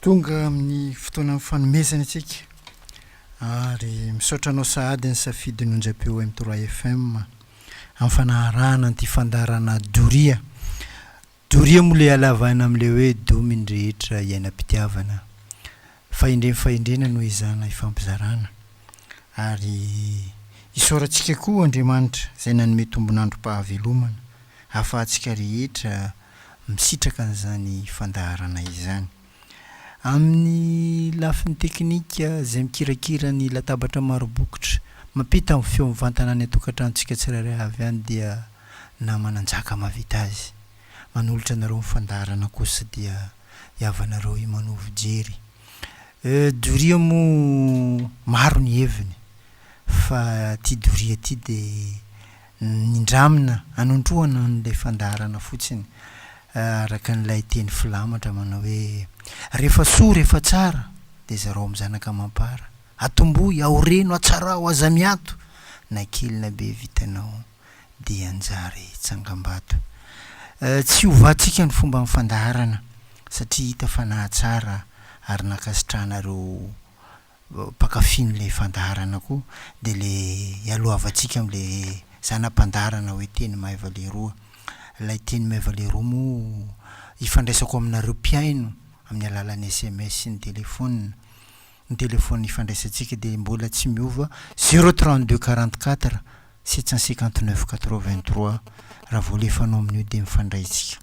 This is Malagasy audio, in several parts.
Tonga amin'ny fotoanan'ny fanomezana isika ary misaotra anao sahady ny safidy nonjapeo M3FM amin'ny fanaharahana an'ity fandaharana doria. Doria moa le halavana amin'le hoe domy ny rehetra iainam-pitiavana. Fahendrena fahendrena no ezahana ifampizarana. Ary isaorantsika koa Andriamanitra izay nanome tombon'androm-pahavelomana ahafahantsika rehetra misitraka an'izany fandaharana izany. Amin'ny lafiny teknika, izay mikirakira ny latabatra maro bokotra, mampita ny feo mivantana any an-tokantranontsika tsirairay avy any dia nama nanjaka mahavita azy. Manolotra anareo ny fandaharana kosa dia hihavanareo i Manovo Jery. Doria moa maro ny heviny fa ty doria ty dia. Nindramina hanondroana an'ilay fandaharana fotsiny araka an'ilay teny filamatra manao hoe, Rehefa soa, rehefa tsara, dia zarao amin'ny zanaka amam-para. Atombohy, aoreno, atsarao, aza miato, na kely na be vitanao dia hanjary tsangambato. Tsy hovàntsika ny fomban'ny fandaharana satria hita fa nahatsara ary nankasitrahana ireo mpankafy an'ilay fandaharana koa dia le ialohavantsika amle zana pandaharana hoe teny maiva leroa. Ilay teny maiva leroa moa ifandraisako aminareo mpihaino amin'ny alalan'ny sms sy ny telephone. Ny telephone ifandraisantsika dia mbola tsy miova zéro trente deux quarante quatre sept cent cinquante neuf quatre vingt trois raha vao alefanao amin'io dia mifandray tsika.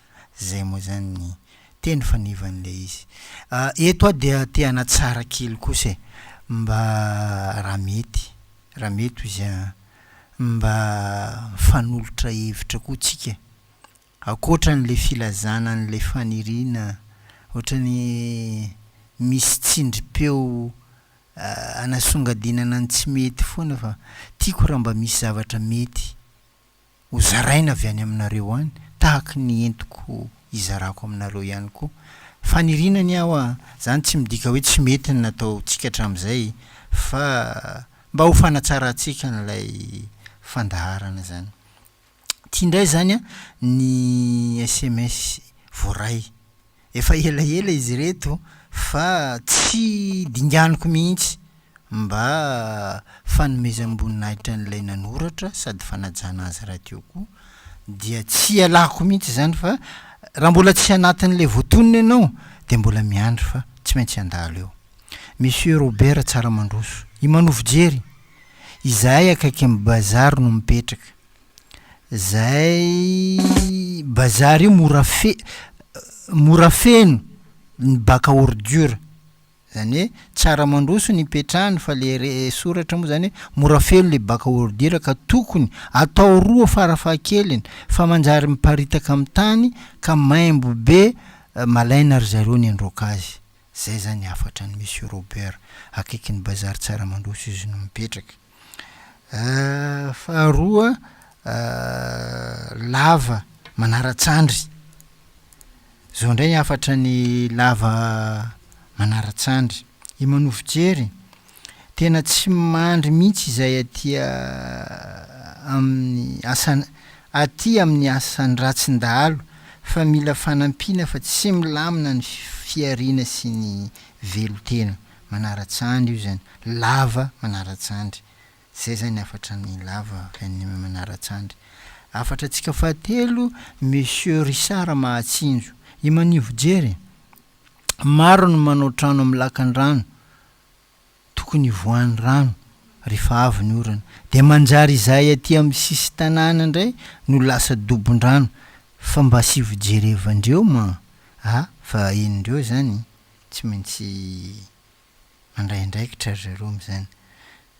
Zay moa zany ny teny fanivan'ilay izy. Eto aho dia te hanatsara kely kosa e. Mba raha mety, raha mety hoy izy an, mba mifanolotra hevitra koa tsika. Ankoatra an'ilay filazana an'ilay faniriana, ohatran'ny misy tsindrim-peo anasongadinana ny tsy mety foana fa tiako raha mba misy zavatra mety Ho zaraina avy any aminareo any, tahaky ny entiko izarako aminareo ihany koa. Faniriana ny aho a! Izany tsy midika hoe tsy mety ny nataontsika hatramin'izay, fa mba ho fanatsarantsika an'ilay fandaharana izany. Ity indray izany ny sms voaray. Efa elaela izy ireto fa tsy dinganiko mihitsy mba fanomezam-boninahitra an'ilay nanoratra sady fanajana azy rahateo koa dia tsy ialako mihitsy izany fa raha mbola tsy anatin'ilay voatonona ianao dia mbola miandry fa tsy maintsy handalo eo. Monsieur Robert Tsaramandroso, i Manovo Jery, izahay akaikin'ny bazary no mipetraka. Zay bazar io mora fe- mora feno ny bac à ordure, zany hoe tsara mandroso ny ipetrahany fa le re- soratra moa zany hoe mora feno le bac à ordure ka tokony atao roa fara fahakeliny fa manjary miparitaka am tany ka maimbo be malaina ry zareo ny androaka azy, zay zany hafatra ny Monsieur Robert akaikin'ny bazar Tsaramandroso izy no mipetraka. Faharoa, lava manara-tsandry. Zao ndray hafatra ny lava manara-tsandry. I Manovojery, tena tsy mandry mihitsy izay aty amin'ny asa- aty amin'ny asan-dRatsin-dahalo fa mila fanampiana fa tsy milamina ny fihariana sy ny velon-tena. manaratsandry io zany, lava manaratsandry. Zay zany hafatra amin'ny lava avy any amin'ny manaratsandry. Hafatra antsika fahatelo, Monsieur Richard Mahatsinjo. I Manivojery e! Maro no manao trano amin'ny lakan-drano, tokony hivoahan'ny rano rehefa avy ny orana. Dia manjary izahay aty amin'ny sisin-tanàna indray no lasa dobon-drano. Fa mba asio fijerevandreo ma a! Fa henondreo zany. tsy maintsy mandray andraikitra ry zareo amin'izany.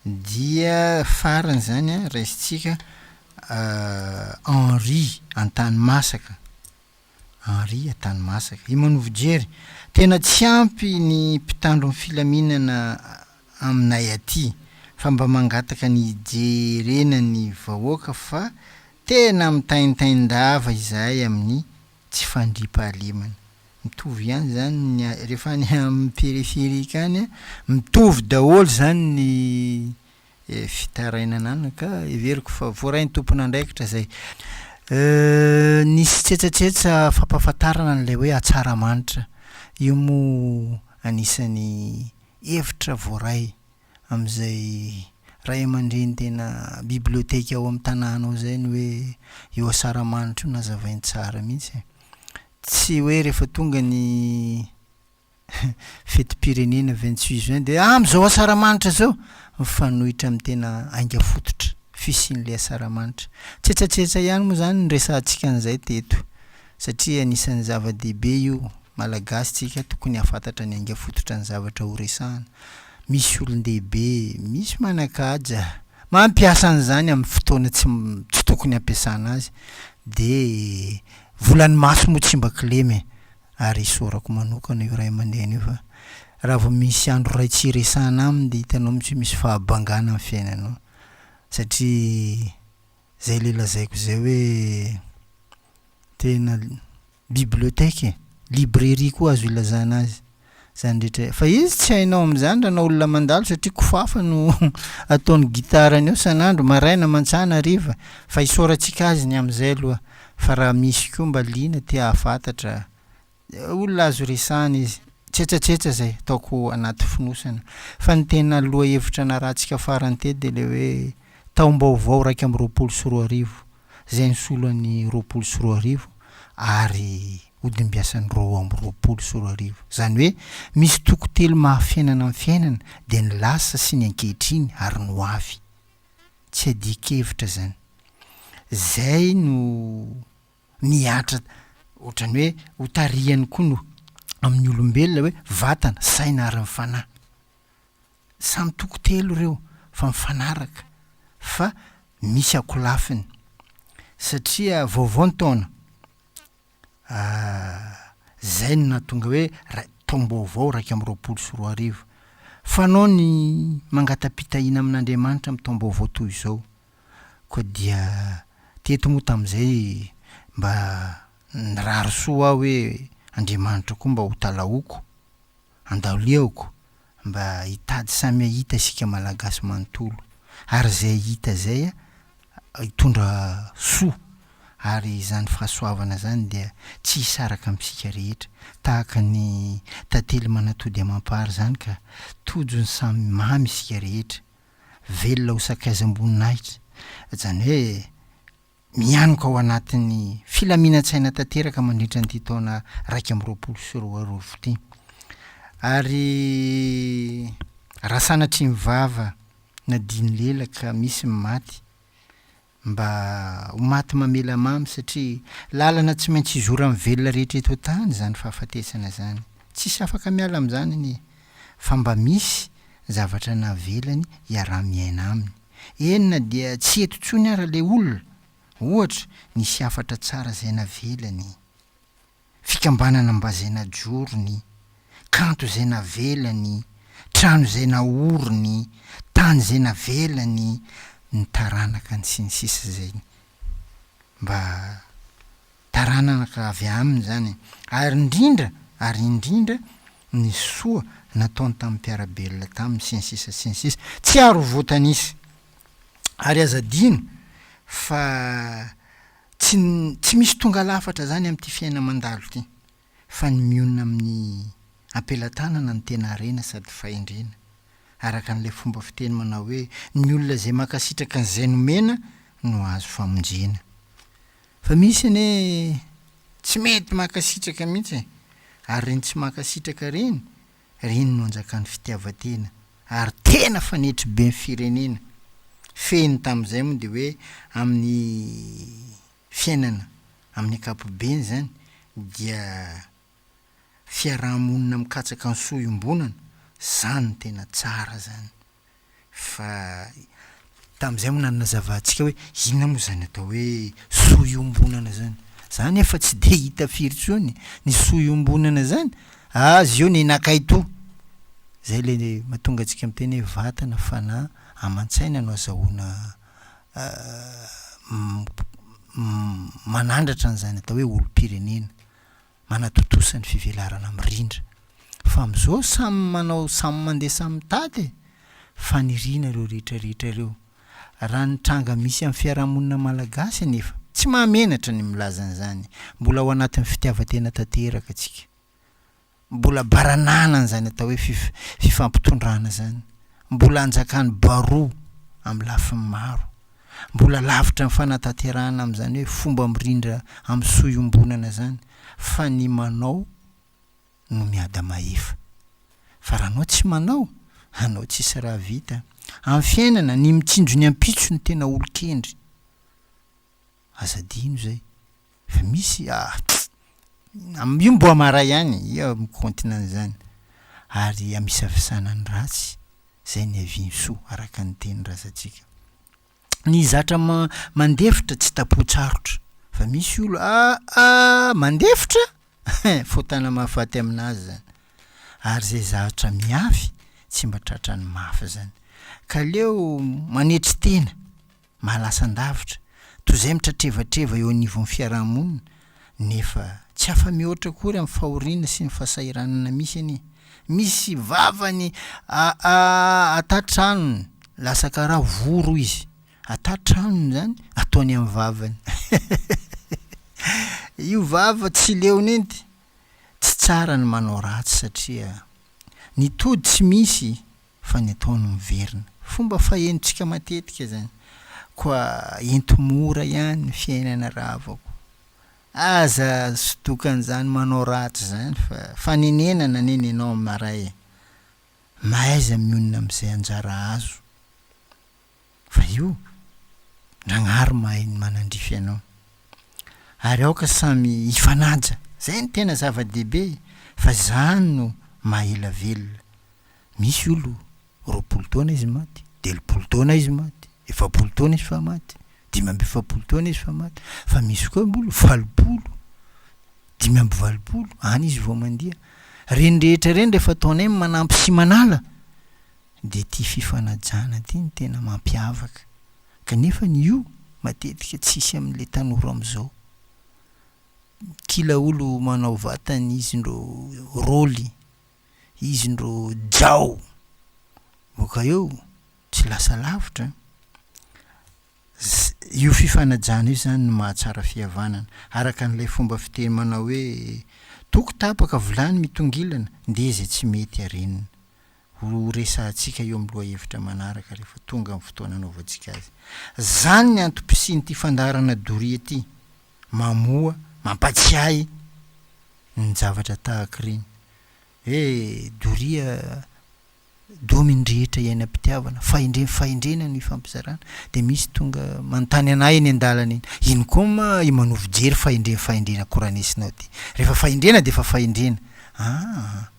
Dia farany izany an, raisintsika Henri Antanimasaka, Henri Antanimasaka, i Manovo Jerry, tena tsy ampy ny mpitandro ny filaminana aminay aty fa mba mangataka ny hijerena ny vahoaka fa tena mitaintain-dava izahay amin'ny tsy fandriampahalemana. Mitovy ihany zany ny rehefa any amin'ny périphérique any a, mitovy daholo zany ny fitarainana any ka heveriko fa voarain'ny tompon'andraikitra zay. Nisy tsetsatsetsa fampahafantarana an'ilay hoe Hatsaramanitra, io moa anisan'ny hevitra voaray. amin'izay ray aman-dreny tena biblioteka ao amin'ny tanànao izay ny hoe eo Asaramanitra io nazavainy tsara mihitsy e. Tsy hoe rehefa tonga ny fetim-pirenena vingt huit juin dia ah amin'izao Asaramanitra izao! Mifanohitra amin'ny tena ainga fototra fisian'ilay Asaramanitra. Tsetsatsetsa ihany moa izany ny resahantsika an'izay teto satria anisan'ny zava-dehibe io, Malagasy tsika tokony hahafantatra ny ainga fototra ny zavatra horesahana. Misy olon-dehibe misy manan-kaja mampiasa an'izany amin'ny fotoana tsy tsy tokony hampiasana azy dia vola ny maso moa tsy mba kilema e! ary isaorako manokana io ray aman-dreny io fa raha vao misy andro iray tsy hiresahana aminy dia hitanao mihitsy hoe misy fahabangana amin'ny fiainanao satria Zay le lazaiko zay hoe tena bibliothèque e, librairie koa azo ilazana azy zany rehetra fa izy tsy hainao amzany raha anao olona mandalo satria kofafa no ataony guitare-ny eo san'andro, maraina, mantsana, hariva, fa isaorantsika azy ny amzay aloha fa raha misy koa mba liana te hahafatatra, olona azo resahina izy. Tsetsatsetsa izay, ataoko anaty fonosana. Fa ny tena lohahevitra narahantsika farany teto dia ilay hoe Taombaovao iraika amby roapolo sy roa arivo, izay nisolo an'ny roapolo sy roa arivo ary hodimbiasan'ny roa amby roapolo sy roa arivo. Izany hoe misy toko telo maha-fiainana ny fiainana, dia ny lasa sy ny ankehitriny ary ny hoavy. Tsy adin-kevitra izany. Izay no. Nihatra ohatran'ny hoe ho tarihany koa no amin'ny olombelona hoe vatana, saina ary ny fanahy. Samy toko telo ireo fa mifanaraka fa misy akolafiny satria vaovao ny taona izay no nahatonga hoe taom-baovao iraika amby roapolo sy roa arivo. Fanao ny mangata-pitahiana amin'Andriamanitra amin'ny taom-baovao toy izao. Koa dia teto moa tamin'izay mba nirary soa aho hoe Andriamanitra koa mba ho talaoko, andaliako mba hitady samy hahita isika Malagasy manontolo ary izay hita izay hitondra soa ary izany fahasoavana izany dia tsy hisaraka amintsika rehetra tahaka ny tantely manatody amam-pary izany ka tojo ny samy mamy isika rehetra. velona ho sakaizam-boninahitra, izany hoe mianoka ao anatin'ny filaminantsaina tanteraka mandritra an'ity taona iraika amby roapolo sy roa arivo ity. Ary raha sanatria ny vava na din'ny lela ka misy ny maty, Mba ho maty mamela mamy satria lalana tsy maintsy hizoran'ny velona rehetra eto an-tany izany fahafatesana izany. Tsisy afaka miala amin'izany anie fa mba misy zavatra navelany hiaraha-miaina aminy. Eny na dia tsy eto intsony ara ilay olona, ohatra, nisy hafatra tsara izay navelany. fikambanana mba izay najorony, kanto izay navelany, trano izay naoriny, tany izay navelany ny taranakany sy ny sisa izay mba taranaka avy aminy izany e! ary indrindra ary indrindra ny soa nataony tamin'ny mpiara-belona taminy sy ny sisa sy ny sisa tsy ary ho voatanisa ary aza adino fa Tsy tsy misy tonga lafatra zany amin'ity fiaina mandalo ty fa ny mionona amin'ny ampelatanana no tena harena sady fahendrena araka an'ilay fomba fiteny manao hoe ny olona izay mankasitraka an'izay nomena no hahazo famonjena fa misy anie tsy mety mankasitraka mihitsy e! ary reny tsy mankasitraka reny Reny no anjakan'ny fitiavan-tena ary tena fanetry be ny firenena. Fehiny tamin'izay moa dia hoe amin'ny fiainana amin'ny ankapobeny izany dia fiaraha-monina mikatsaka ny soa iombonana, izany no tena tsara izany. Fa tamin'izay moa nanazava antsika hoe inona moa izany atao hoe soa iombonana izany. Za nefa tsy dia hita firy intsony ny soa iombonana izany, azy eo ny nakay toa. Izay ilay mahatonga antsika miteny hoe vatana, fanahy, aman-tsaina no azahoana manandratra an'izany atao hoe olom-pirenena. manatontosa ny fivelarana mirindra fa amzao samy manao samy mandeha samy mitady e! Faniriana ireo rehetra rehetra ireo. Raha ny tranga misy am fiarahamonina malagasy anefa tsy mahamenatra ny milaza anzany. Mbola ao anatin'ny fitiavatena tanteraka tsika. Mbola baranahana anzany atao hoe fif fifampitondrana zany. Mbola anjakan'ny baroa am lafiny maro. Mbola lavitra ny fanatanterahana amin'izany hoe fomba mirindra amin'ny soa iombonana izany fa ny manao no miada mahefa. Fa raha anao tsy manao, anao tsisy raha vita. Amin'ny fiainana, ny mitsinjo ny ampitso no tena olon-kendry. Aza adino izay. Fa misy ah am io mboa maray ihany ia mikaontina an'izany ary amisafisana ny ratsy zay niaviany soa araka ny teny razantsika ny zatra ma mandefitra tsy tapohatsarotra fa misy olo ah ah mandefitra hein fotana mahafaty aminazy zany ary zay zatra miafy tsy mba tratrany mafy zany ka leo manetry tena mahalasan-davitra, toy izay mitratrevatreva eo anivon'ny fiaraha-monina, nefa tsy afa-mihoatra akory amin'ny fahoriana sy ny fahasahiranana misy anie. Misy vavany aa-aa-aa-ata-tranony, lasa karaha voro izy. Ata-tranony izany, ataony amin'ny vavany. Io vava tsy leon'inty, tsy tsara ny manao ratsy satria ny tody tsy misy. fa ny atao no miverina. Fomba fahenontsika matetika izany, koa ento mora ihany ny fiainana rahavako. Aza sodokan'izany manao ratsy izany fa fanenenana anie ny anao maray e! Mahaiza mionona amin'izay anjara azo. Fa io, Nagnahary mahay ny manandrify anao. Ary aoka samy hifanaja, zay no tena zava-dehibe e, fa zany no maha ela velona. Misy olo, roapolo taona izy maty, telopolo taona izy maty, efapolo taona izy fa maty, dimy amby efapolo taona izy fa maty, fa misy koa olo valopolo, dimy amby valopolo, any izy vao mandia. Reny rehetra reny rehefa ataonay manampy sy manala, Dia ity fifanajana ity no tena mampiavaka kanefa ny io matetika tsisy amin'ilay tanora amzao. Kila olo manao vatany izy ndro roly, izy ndro jao boka eo tsy lasa lavitra an! Io fifanajana io zany no mahatsara fihavanana araka an'ilay fomba fiteny manao hoe, toko tapaka vilany mitongilana ndeha izay tsy mety arenina. Ho resahantsika eo amin'ny lohahevitra manaraka rehefa tonga amin'ny fotoana hanaovantsika azy. Izany ny antom-pisian'ity fandaharana doria ity. Mamoha, mampatsiahy ny zavatra tahaka ireny. Hoe doria domy ny rehetra iainam-pitiavana, fahendrena fahendrena no ifampizarana. Dia misy tonga manontany an'ahy eny an-dalana eny, ino koa ma i Manao fijery fahendrena fahendrena koranesinao ity? Rehefa fahendrena dia efa fahendrena. Aa!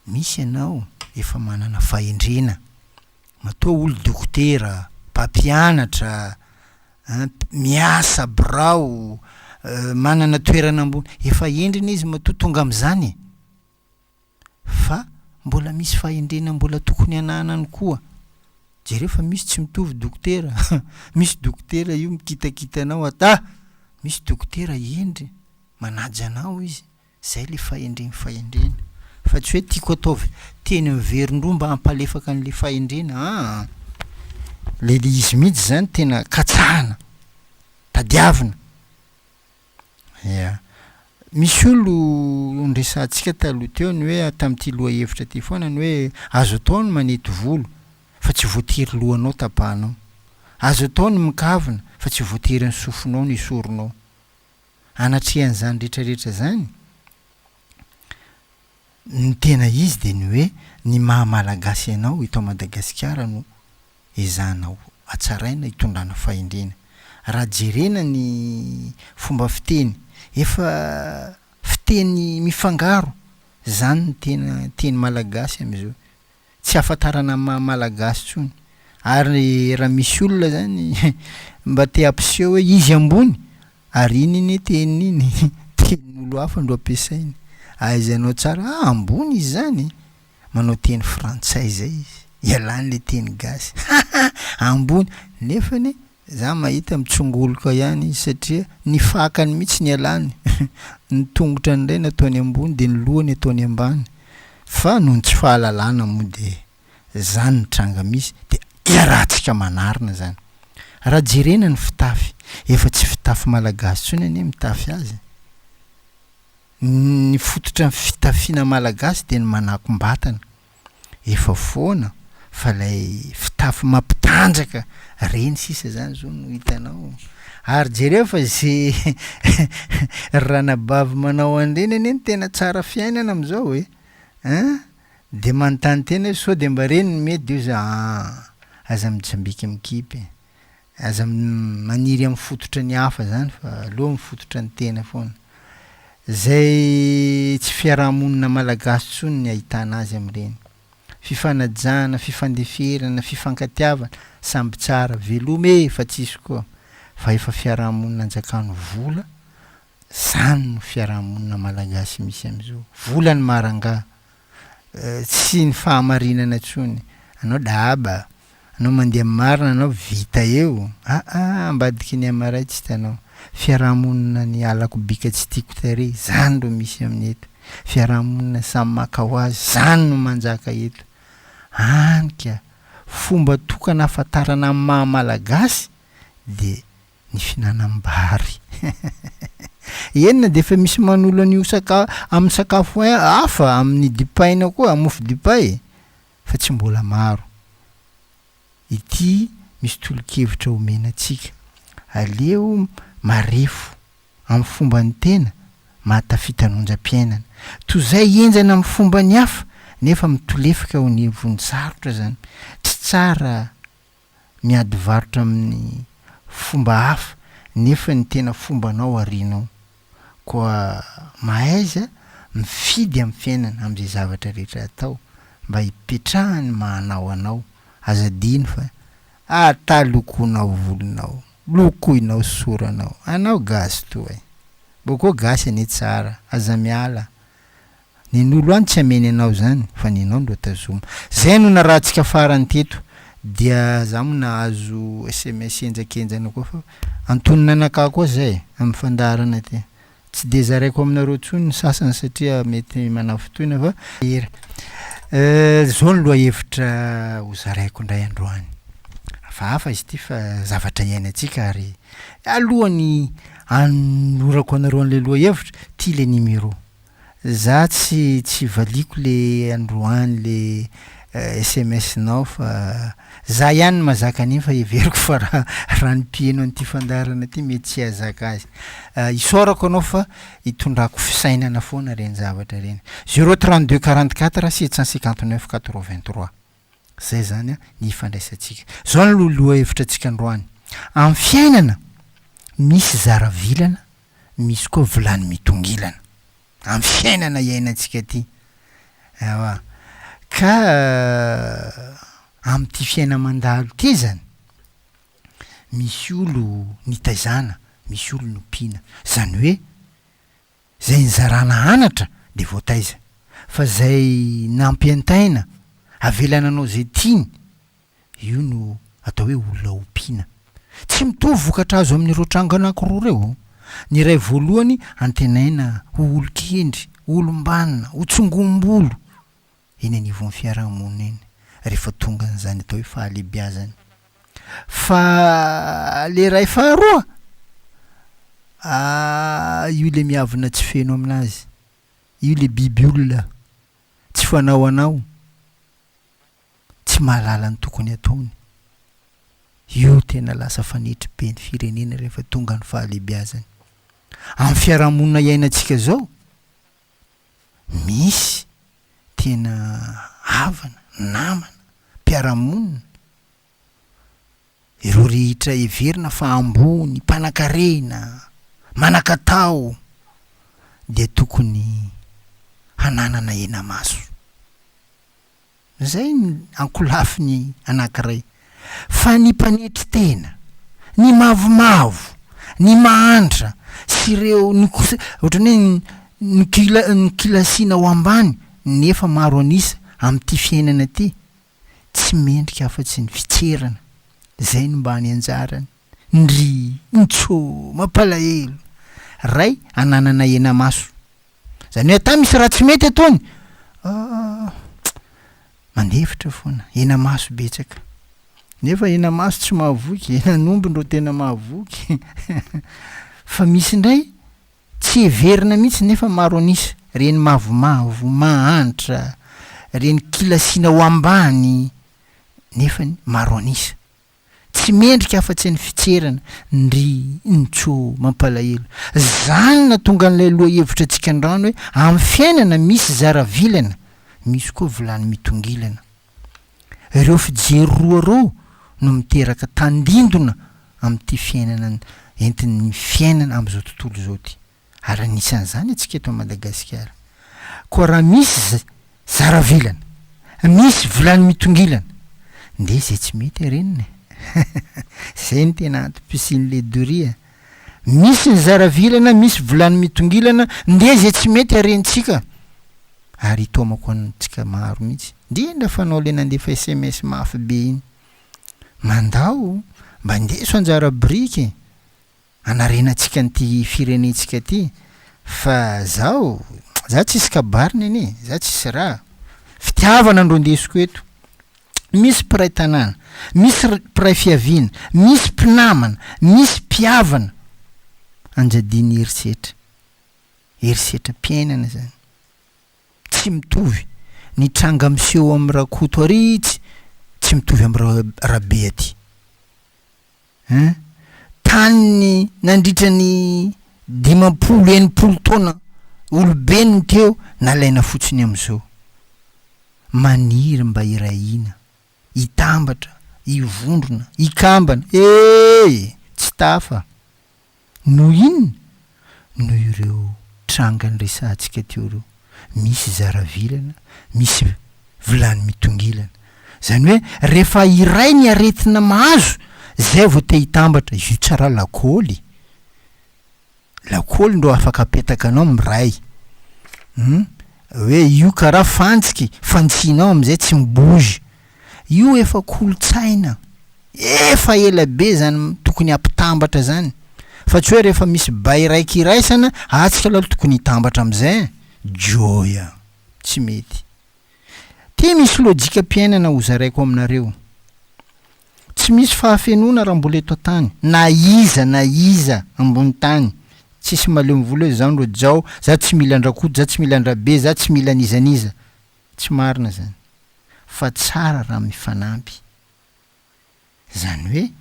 Misy ianao efa manana fahendrena, matoa olo dokotera, mpampianatra, miasa birao, manana toerana ambony, efa hendrina izy matoa tonga amin'izany e! fa mbola misy fahendrena mbola tokony hananany koa, jereo fa misy tsy mitovy dokotera, misy dokotera io mikitakita anao, ata misy dokotera hendry, manaja anao izy, Izay ilay fahendreny fahendrena fa tsy hoe tiako ataovy teny miverindroa mba hampalefaka an'ilay fahendrena aa! Ilay ilay izy mihitsy izany tena katsahana, tadiavina. Ia. Misy olo noresahantsika taloha teo ny hoe tamin'ity lohahevitra ity foana ny hoe azo atao ny manety volo fa tsy voatery lohanao tapahanao. Azo atao ny mikavina fa tsy voatery ny sofinao no esorinao. anatrehan'izany rehetrarehetra izany, ny tena izy dia ny hoe ny maha Malagasy anao eto Madagasikara no ezahana hatsaraina, hitondrana fahendrena. Raha jerena ny fomba fiteny, efa fiteny mifangaro izany ny tena teny malagasy amin'izao. tsy ahafantarana ny maha malagasy tsony ary raha misy olona zany mba te hampiseho hoe izy ambony ary iny anie teniny iny tenin'olo hafa ndro ampiasainy ahaizanao tsara ah ambony izy zany manao teny frantsay zay izy ialany le teny gasy haha ambony nefany Za mahita mitsongoloka ihany izy satria ny fakany mihitsy ny ialany, ny tongotrany indray no ataony ambony dia ny lohany ataony ambany, fa noho ny tsy fahalalana moa dia zany ny tranga misy dia iarahantsika manarina izany. Raha jerena ny fitafy, efa tsy fitafy malagasy intsony anie mitafy azy, ny fototra ny fitafiana malagasy dia ny manakom-batana, efa foana fa ilay fitafy mampitanjaka ireny sisa zany zao no hitanao ary jereo fa ze ranabavy manao an'ireny anie no tena tsara fiainana amizao e an! de manontany tena hoe sao de mba ireny no mety de hoy za an! aza mitsambika mikipy Aza maniry amin'ny fototra ny hafa zany fa aleo amin'ny fototra ny tena foana. Zay tsy fiaraha-monina malagasy tsony ny ahitana azy amin'ireny. Fifanajana, fifandeferana, fifankatiavana, samby tsara, veloma e fa tsisy koa fa efa fiaraha-monina anjakano vola, zany no fiaraha-monina malagasy misy amizao. Vola ny marangaha. tsy ny fahamarinana intsony, anao dahaba, anao mandeha amin'ny marina, anao vita eo, aa ambadiky ny amaray tsy hitanao, fiarahamonina ny halako bika tsy tiako tary zany ro misy amin'ny eto, fiarahamonina samy maka ho azy zany no manjaka eto, any ka, fomba tokana ahafantarana ny maha malagasy dia ny fihinanam-bary. Eny na dia efa misy manolo an'io saka amin'ny sakafo hafa, amin'ny dipaina koa, mofo dipay, fa tsy mbola maro. Ity misy tolo-kevitra omena antsika, aleo marefo amin'ny fomban'ny tena mahatafita ny onjam-piainana. Toy izay henjana amin'ny fomban'ny hafa nefa mitolefika ho ny vonjisarotra izany, tsy tsara miady varotra amin'ny fomba hafa nefa ny tena fombanao arianao. Koa mahaiza mifidy amin'ny fiainana amin'izay zavatra rehetra atao mba hipetrahan'ny maha anao anao. Aza adino fa ata lokoinao volonao, lokoinao soranao, anao gasy toa e! Boko gasy anie tsara, aza miala Ny nolo any tsy ameny anao izany fa ny anao no tazoma. Zay no narahantsika farany teto dia za mo nahazo sms henjakenjana koa fa antonon'anakah koa zay amin'ny fandaharana ty. Tsy dia zaraiko aminareo tsony ny sasany satria mety manafintohina fa er eh zao ny lohahevitra ho zaraiko indray androany. Hafahafa izy ty fa zavatra iainantsika ary alohan'ny hanolorako anareo an'ilay lohahevitra ty ilay numéro. Za tsy tsy valiako le androany le sms nao fa za ihany no mazaka an'iny fa heveriko fa ra ra ny mpiheno an'ity fandaharana ty mety tsy hahazaka azy. Isaorako anao fa itondrako fisainana foana reny zavatra reny. Zero trente deux quarante quatre sept cent cinquante neuf quatre vingt trois. Izay izany an, ny ifandraisantsika. Izao no lohahevitra antsika androany. Amin'ny fiainana, misy zara vilana, misy koa vilany mitongilana. Amin'ny fiainana iainantsika ity. Ewa. Ka amin'ity fiaina mandalo ity izany, misy olo nitaizana, misy olo nompiana. Izany hoe. Zay nizarana anatra de voataiza fa zay nampientaina avela nanao zay tiany io no atao hoe olona ompiana. Tsy mitovy vokatra azo amin'ireo tranga anankiroa reo. Ny iray voalohany antenaina ho olon-kendry, olom-banona, ho tsongom-bolo eny anivon'ny fiaraha-monina eny rehefa tonga an'izany atao hoe fahalehibiazana. Fa ilay iray faharoa, ah, io ilay miavona tsy feno amin'azy. Io ilay biby olona, tsy fanao anao, tsy mahalala ny tokony ataony. Io tena lasa fanetry be ny firenena rehefa tonga ny fahalehibiazana. Amin'ny fiaraha-monina iainantsika izao, misy tena havana, namana, mpiara-monina, ireo rehetra heverina fa ambony, mpanan-karena, manan-katao, dia tokony hananana henamaso. Izay ny ankolafiny anankiray. Fa ny mpanetry tena, ny mavomavo, ny mahantra sy ireo ohatran'ny hoe nokilasiana ho ambany nefa maro an'isa amin'ity fiainana ity, tsy mendrika afa-tsy ny fitserana. Izay no mba ny anjarany. Ndry! Ntsoo! Mampalahelo! Ray ananana henamaso! Zany hoe ata misy raha tsy mety ataony? Aah! Mandefitra foana! Henamaso betsaka! Nefa henamaso tsy mahavoky, henan'omby ndro tena mahavoky! Fa misy ndray tsy heverina mihitsy nefa maro an'isa, reny mavomavo, mahantra, reny kilasiana ho ambany, nefany maro an'isa! tsy mendrika afa-tsy ny fitserana, ndry nco. Mampalahelo. Zany natonga an'ilay lohahevitra antsika andrano hoe amin'ny fiainana misy zara vilana, misy koa vilany mitongilana. Ireo fijery roa ireo no miteraka tandindona amin'ity fiainana entin'ny fiainana amin'izao tontolo izao ity. ary anisan'izany antsika eto Madagasikara. Koa raha misy zara vilana, misy vilany mitongilana, ndeha izay tsy mety arenina e! Izay no tena antom-pisian'ilay doria. Misy ny zara vilana, misy vilany mitongilana, ndeha izay tsy mety harentsika. Ary itaomako antsika maro mihitsy, indrindra fa anao ilay nandefa sms mafy be iny. Mandao, mba indeso anjara biriky e! Hanarenantsika an'ity firenentsika ity fa zaho za tsisy kabary nene za tsisy raha fitiavana ndro ndesiko eto misy mpiray tanàna misy mpiray fiaviana misy mpinamana misy mpiavana anjadian'ny herisetra herisetram-piainana zany tsy mitovy ny tranga miseho amin'ny rakoto ary tsy tsy mitovy amin'ny rabe aty Hein? Tany nandritra ny dimampolo enimpolo taona olobe no teo nalaina fotsiny amin'izao. Maniry mba hirahina, hitambatra, hivondrona, hikambana, ee! tsy tafa. Noho inona? Noho ireo tranga niresahantsika teo ireo. Misy zaravilana, misy vilany mitongilana. Izany hoe rehefa iray ny aretina mahazo, izay vao te hitambatra. Io tsara lakôly. Lakôly ndro afaka apetaka anao miray. Hum. Hoe io karaha fantsiky, fantsihinao amin'izay tsy mi-bouge. Io efa kolontsaina efa ela be zany tokony ampitambatra zany fa tsy hoe rehefa misy bay raiky iraisana ah tsika lalo tokony hitambatra amizay eh joy ah tsy mety ty misy lojikam-piainana hozaraiko aminareo tsy misy fahafenoana raha mbola eto antany na iza na iza ambony tany tsisy malemy vola hoe zah ndro jao zah tsy mila andrakoto zah tsy mila andrabe zah tsy mila anizaniza Tsy marina zany fa tsara raha mifanampy zany hoe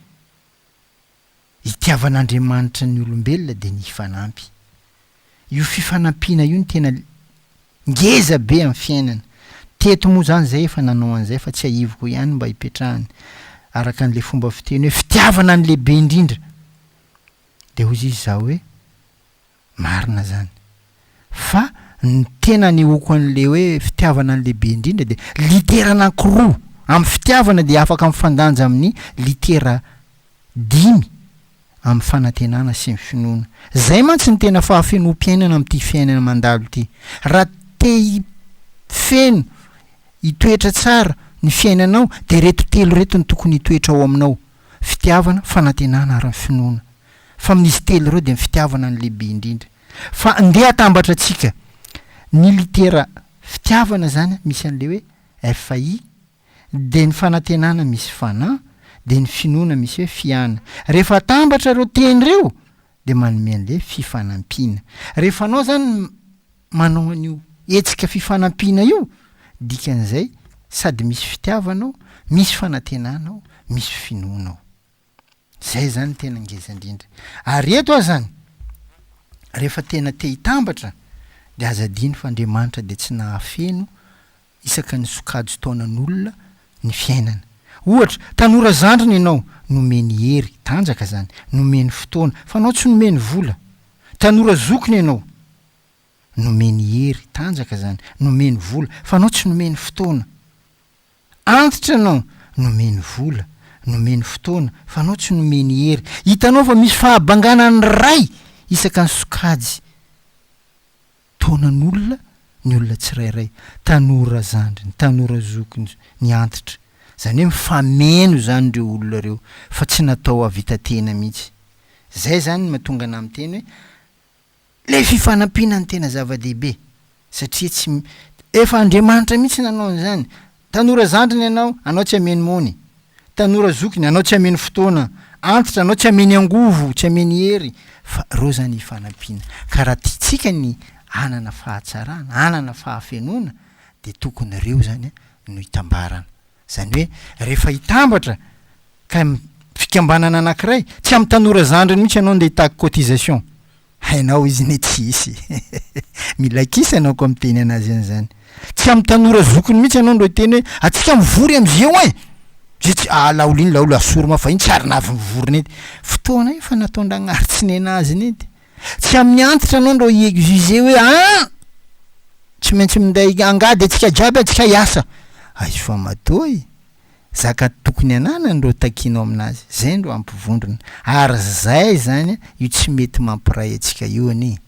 itiavan'Andriamanitra ny olombelona dia ny hifanampy. Io fifanampiana io no tena ngeza be amin'ny fiainana. Teto moa zany zay efa nanao an'izay fa tsiahiviko ihany mba hipetrahany araka an'le fomba fiteny hoe fitiavana ny lehibe indrindra dia hoy izy izaho hoe Marina zany. Fa ny tena anehoako an'le hoe fitiavana an'le be indrindra dia litera anankiroa. Amin'ny fitiavana dia afaka mifandanja amin'ny litera dimy amin'ny fanantenana sy ny finoana. Zay mantsy ny tena fahafenoam-piainana amin'ity fiainana mandalo ity. Raha te hifeno, hitoetra tsara ny fiainanao dia reto telo reto no tokony hitoetra ao aminao. fitiavana, fanantenana ary ny finoana. Fa amin'izy telo ireo dia ny fitiavana no lehibe indrindra. Fa ndeha hatambatra antsika ny litera fitiavana izany misy an'ilay hoe FI, dia ny fanantenana misy fana, dia ny finoana misy hoe fiana. Rehefa atambatra ireo teny ireo dia manome an'ilay fifanampiana. Rehefa anao izany manao an'io hetsika fifanampiana io, dikan'izay sady misy fitiavana ao, misy fanantenana ao, misy finoana ao. Izay zany tena ngeza indrindra. Ary eto azany, rehefa tena te hitambatra, dia aza adino fa Andriamanitra dia tsy nahafeno isaka ny sokajin-taonan'olona ny fiainana. Ohatra, tanora zandriny ianao, nomeny hery, tanjaka zany, nomeny fotoana, fa anao tsy nomeny vola. Tanora zokiny ianao. Nomeny hery, tanjaka izany, nomeny vola, fa anao tsy nomeny fotoana. Antitra ianao, nomeny vola, nomeny fotoana, fa anao tsy nomeny hery. Hitanao fa misy fahabangana ny Ray isaka ny sokajy taonan'olona ny olona tsirairay, tanora zandriny, tanora zokiny, ny antitra. Izany hoe mifameno izany ireo olona ireo, fa tsy natao hahavita tena mihitsy. Izay izany no mahatonga anah miteny hoe Ilay fifanampiana no tena zava-dehibe satria tsy Efa Andriamanitra mihitsy nanao an'izany. Tanora zandriny ianao, anao tsy ameno mony. Tanora zokiny, anao tsy ameno fotoana. Antitra, anao tsy ameny angovo, tsy ameny hery. Fa ireo izany hifanampiana. Ka raha tiantsika ny hanana fahatsarana, hanana fahafenoana, dia tokony ireo izany no hitambarana. Izany hoe rehefa hitambatra kay am fikambanana anakiray, tsy am tanora zandriny mihitsy ianao ndeha hitaky cotisation. Hainao izy ne tsy hisy. Mila kisa ianao koa miteny anazy an'izany. Tsy am tanora zokiny mihitsy ianao ndro hiteny hoe atsika mivory am ze oin! Ze tsy ah laolo iny laolo asory mafy fa iny tsy ary navy mivory nety. Fotoana efa nataondragnahary tsy nenazy nety. Tsy amin'ny antitra anao ndro hi exiger hoe an! tsy maintsy minday angady antsika jiaby antsika hiasa! Aisoa matoa e! zaka tokony ananany ndro takianao aminazy, zay ndro ampivondrona, ary zay zany an io tsy mety mampiray antsika io anie!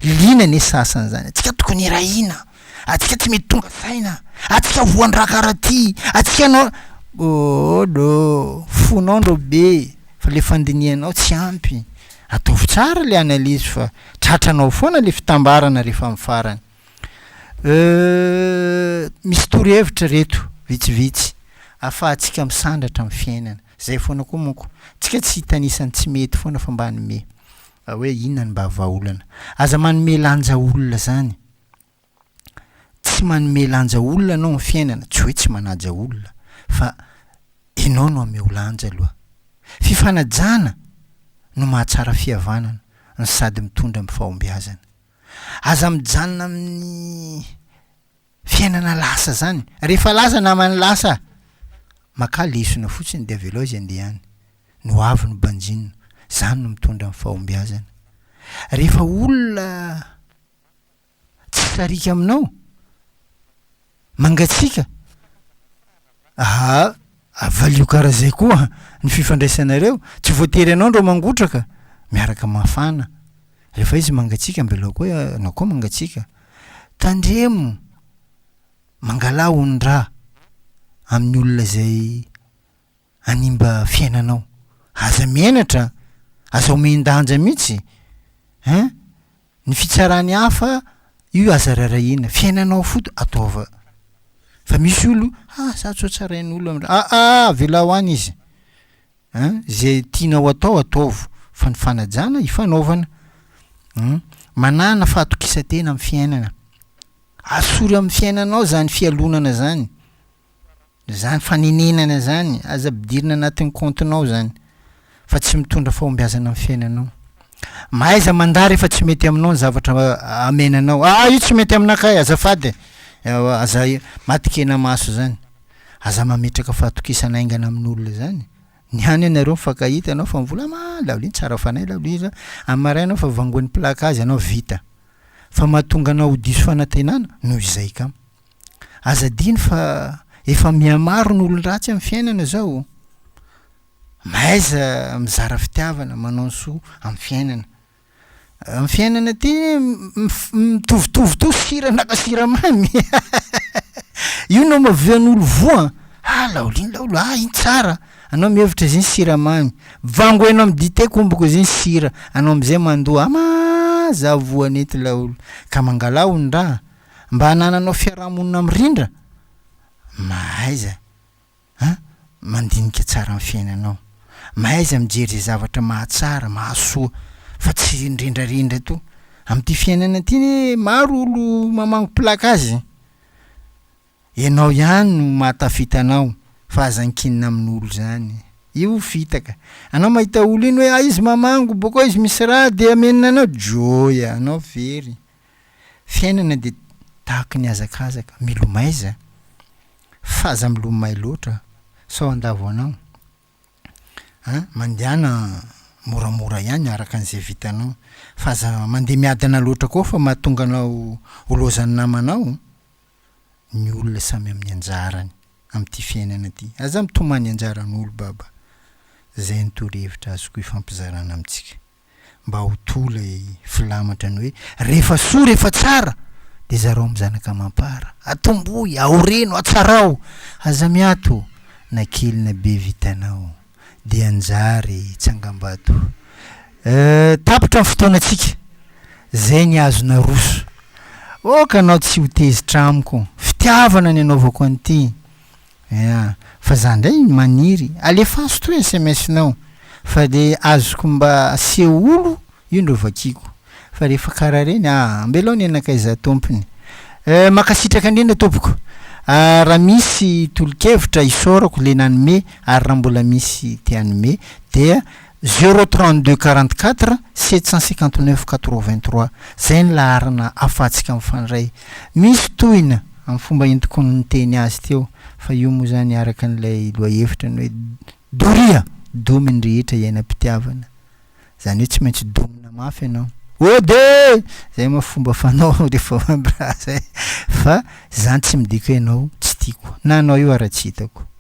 liana anie sasany zany, antsika tokony hirahina, antsika tsy mety tonga saina, antsika voandra karaha ty, antsika no ooh ndro fonao ndro be fa le fandinihanao tsy ampy, Ataovy tsara le analyse fa tratranao foana le fitambarana rehefa amin'ny farany. Euh misy torohevitra reto vitsivitsy afahantsika misandratra amin'ny fiainana. Zay foana koa monko. Tsika tsy hitanisa ny tsy mety foana fa mba hanome hoe inona ny mba vahaolana. Aza manome lanja olona zany. tsy manome lanja olona ianao amin'ny fiainana, tsy hoe tsy manaja olona fa ianao no ameo lanja aloha. Fifanajana no mahatsara fihavanana no sady mitondra amin'ny fahombiazana. Aza mijanona amin'ny fiainana lasa izany. Rehefa lasa namana lasa, makà lesona fotsiny dia avelao izy handeha any. Ny ho avy no banjino. Izany no mitondra amin'ny fahombiazana. Rehefa olona. Tsy sariaka aminao? Mangatsiaka? Aha, avalio karaha zay koa ny fifandraisanareo, tsy voatery anao ndro mangotraka, miaraka mafana, refa izy mangatsiaka ambelao koa anao koa mangatsiaka, tandremo mangala hondraha amin'ny olona zay hanimba fiainanao. Aza menatra, aza omen-danja mihitsy hein! Ny fitsaran'ny hafa io aza raharahiana, fiainanao foto ataova. Fa misy olo, ah za tsy ho tsarain'olo, aa avelao any izy hein! Izay tianao atao ataovo fa ny fanajana ifanaovana. Hum! Manana fahatokisan-tena amin'ny fiainana. Asory amin'ny fiainanao izany fialonana izany Zany fanenenana izany, aza ampidirina anatin'ny kaontinao izany fa tsy mitondra fahombiazana amin'ny fiainanao. Mahaiza mandà rehefa tsy mety aminao ny zavatra amena anao. Ah, io tsy mety aminakay, azafady e! Ewa, aza matin-kena maso izany. Aza mametraka fahatokisana haingana amin'olona izany. Ny hany ianareo mifankahita ianao fa mivolama, ah, laolin tsara fanahy laolo iza, amin'ny maraina fa vangoin'ny plaka azy ianao, vita. Fa mahatonga anao ho diso fanantenana, noho izay kamo. Aza adino fa efa mihamaro ny olon-dratsy amin'ny fiainana izao. Mahaiza mizara fitiavana, manao ny soa amin'ny fiainana. Amin'ny fiainana ity mitovitovy to siran'aka siramamy io no mavian'olo voa ah laolo iny laolo ah iny tsara anao mihevitra izy iny siramamy vango eno amin'ny dite komboko izy iny sira anao amizay mandoa ama za voa nety laolo ka mangalà hono raha Mba hanananao fiaraha-monina mirindra? Mahaiza a mandinika tsara ny fiainanao. Mahaiza mijery izay zavatra mahatsara, mahasoa fa tsy rindrindrarindra to. Amin'ity fiainana ity anie maro olo mamangopilaka azy e. Ianao ihany no mahatafita anao fa aza ankinina amin'olo zany. Io fitaka. Anao mahita olo iny hoe ah izy mamango bokao izy misy ra dia amenina anao, joy anao very. Fiainana dia tahaky ny hazakazaka, milomay za. F'aza milomay loatra sao handavo anao a! Mandehana moramora ihany araka an'izay vitanao f'aza mandeha miadana loatra koa fa mahatonga anao ho lozan'ny namanao ny olona samy amin'ny anjarany amin'ity fiainana ity. Aza mitomany anjaran'olo baba. Zay ny torohevitra azoko ifampizarana amintsika. mba ho toa ilay filamatra ny hoe, rehefa soa, rehefa tsara, dia zarao amin'ny zanaka amam-para, atomboy, aoreno, atsarao, aza miato na kely na be vitanao, dia anjary tsangambato. Euh, tapitra ny fotoanantsika, zay ny azo naroso. Aoka anao tsy ho tezitra amiko, fitiavana ny anaovako an'ity, Ea, fa za ndray maniry alefaso to sms nao fa le azoko mba seolo io ndro vakiako fa rehefa kara reny aa ambelao ny anakaiza tompony euh makasitraka ndrindra tompoko ah ra misy tolokevitra isaorako le nanome ary ra mbola misy te hanome dia Zéro trente deux quarante quatre sept cent cinquante neuf quatre vingt trois izay ny laharana afahantsika mifandray. Misy tohina amin'ny fomba entiko niteny azy teo fa io moa izany araka an'ilay lohahevitra ny hoe doria, domy ny rehetra iainam-pitiavana. Izany hoe tsy maintsy domina mafy ianao. Ode! Izay moa fomba fanao rehefa hoe miraha izay fa izany tsy midika hoe ianao tsy tiako na ianao io ara-tsy hitako.